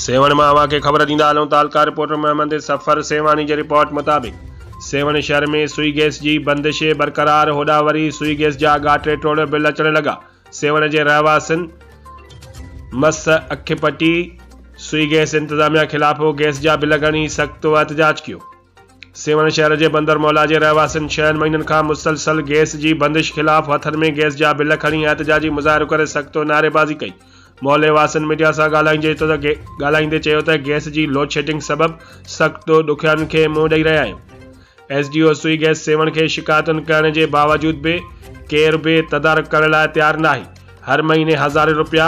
سيوهڻ مان اوهان کي خبر ڏيندا هلون ته اهلڪار رپورٽر محمد سفر سيوهاڻي جي رپورٽ مطابق سيوهڻ شهر ۾ سوئي گيس جي بندش برقرار هوڏانهن وري سوئي گيس جا اگها ٽي ٽوڙ بل اچڻ لڳا سيوهڻ جي رهواسين مس اک پٽي سوئي گيس انتظاميا خلاف گيس جا بل ڳڻي سخت احتجاج ڪيو. سيوهڻ شهر جي بندر مولا جي رهواسين ڇهن مهينن کان مسلسل گئس جي بندش خلاف هٿن ۾ گئس جا بل کڻي احتجاجي مظاهرو ڪري سخت نعريبازي ڪئي. محلي واسين ميڊيا سان ڳالهائيندي چيو ته گئس جي لوڊشيڊنگ سبب سخت ڏکيائين کي منهن ڏئي رهيا آهيون. S D O Sui gas Sehwan کي شڪايتن ڪرڻ جي باوجود به ڪير به تدارڪ ڪرڻ لاء تيار ناهي. هر مهيني هزارين روپيا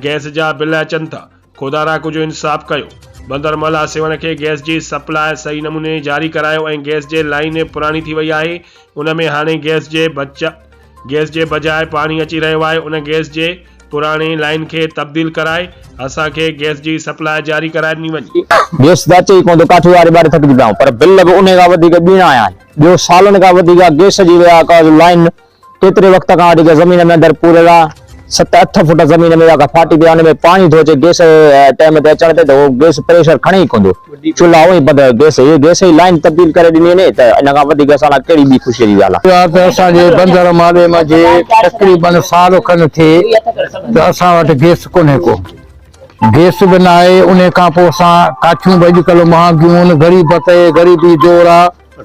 گئس جا بل اچن ٿا. خدا را ڪجهه انصاف ڪيو. بندر مل آسيوڻ کي گئس جي سپلاء صحيح نموني جاري ڪرايو ۽ گئس جي لائين پراڻي ٿي وئي آهي ان ۾ هاڻي گئس جي بچ گئس جي بجاء پاڻي اچي رهيو آهي ان گئس جي پراڻي لائين کي تبديل ڪرائي اسان کي گئس جي سپلاء جاري ڪرائي ڏني وڃي. گئس جا اچي ئي ڪونه ٿو ڪاٺي واري ٻاري ٿڪجي پيا آهيون پر بل به انهي کان وڌيڪ ٻيڻا آيا آهن ٻيو سالن کان وڌيڪ گئس جي ويا ڪا لائين ڪيتري وقت کان وٺي زمين ۾ اندر پوريل آ ست اٺ فوٽ زمين ۾ جيڪا ڦاٽي پئي آ ان ۾ پاڻي ٿو اچي گيس ٽيم تي اچڻ تي ته اهو گيس پريشر کڻي ئي ڪوندو چلها اوهين بند گيس هي گيس جي لائين تبديل ڪري ڏني وڃي ته ان کان وڌيڪ اسان لاء ڪهڙي ٻي خوشي جي ڳالهه آ. اها ته اسان جي بندر مالهي مان جي تقريبن سال کن ٿئي ته اسان وٽ گيس ڪونهي ڪو گيس به ناهي انهي کان پوء اسان ڪاٺيون به اڄڪلهه مهانگيون ان غريب تي غريبي دور آ.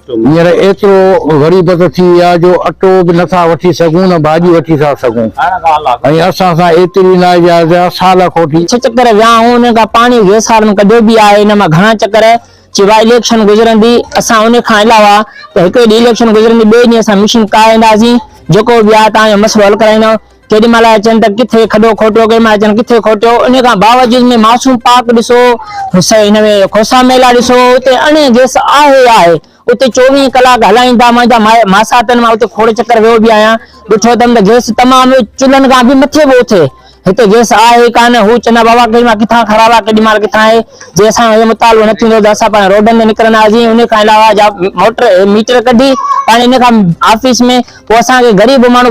هينئر ايترو غريبت ٿي وئي آهي جو اٽو به نه ٿا وٺي سگهون نه ڀاڄي وٺي ٿا سگهون ۽ اسان سان ايتري ناجائز آهي سال کوٽي. ڇهه چڪر ويا آهون انهن کان پاڻي ويسارن ڪڍيو به آهي ان مان گهڻا چڪر سواء اليڪشن گذرندي اسان ان کان علاوه ته هڪڙي ڏينهن اليڪشن گذرندي ٻئي ڏينهن اسان مشين ڪاهي اينداسين جيڪو به آهي توهان جو مسئلو حل ڪرائينداسين. ڪيڏي مھل اچن ته ڪٿي کڏو کوٽيو، ڪيڏي مھل اچن ڪٿي کوٽيو، انھي کان باوجود ۾ معصوم پاڪ ڏسو، ھن ۾ کوسا ميلا ڏسو، اتي اڻي گئس آھي ئي آھي، اتي چوويھھ ڪلاڪ ھلائيندا، مانجا ماساتن مان اتي کوڙ چڪر ويو به آھيان، ڏٺو اٿم ته گئس تمام چلھن کان به مٿي پيو اٿي، ھتي گئس آھي ئي ڪانھ، ھو چوندا بابا ڪيڏي مھل ڪٿان خراب آھي ڪيڏي مھل ڪٿان آھي، جي اسان جو اھو مطالبو نه ٿيندو ھو ته اسان پاڻ روڊن تي نڪرندا ھئاسين، انھي کان علاوه جا موٽر ميٽر ڪڍي پاڻ انھي کان آفيس ۾ پوء اسان کي غريب ماڻھو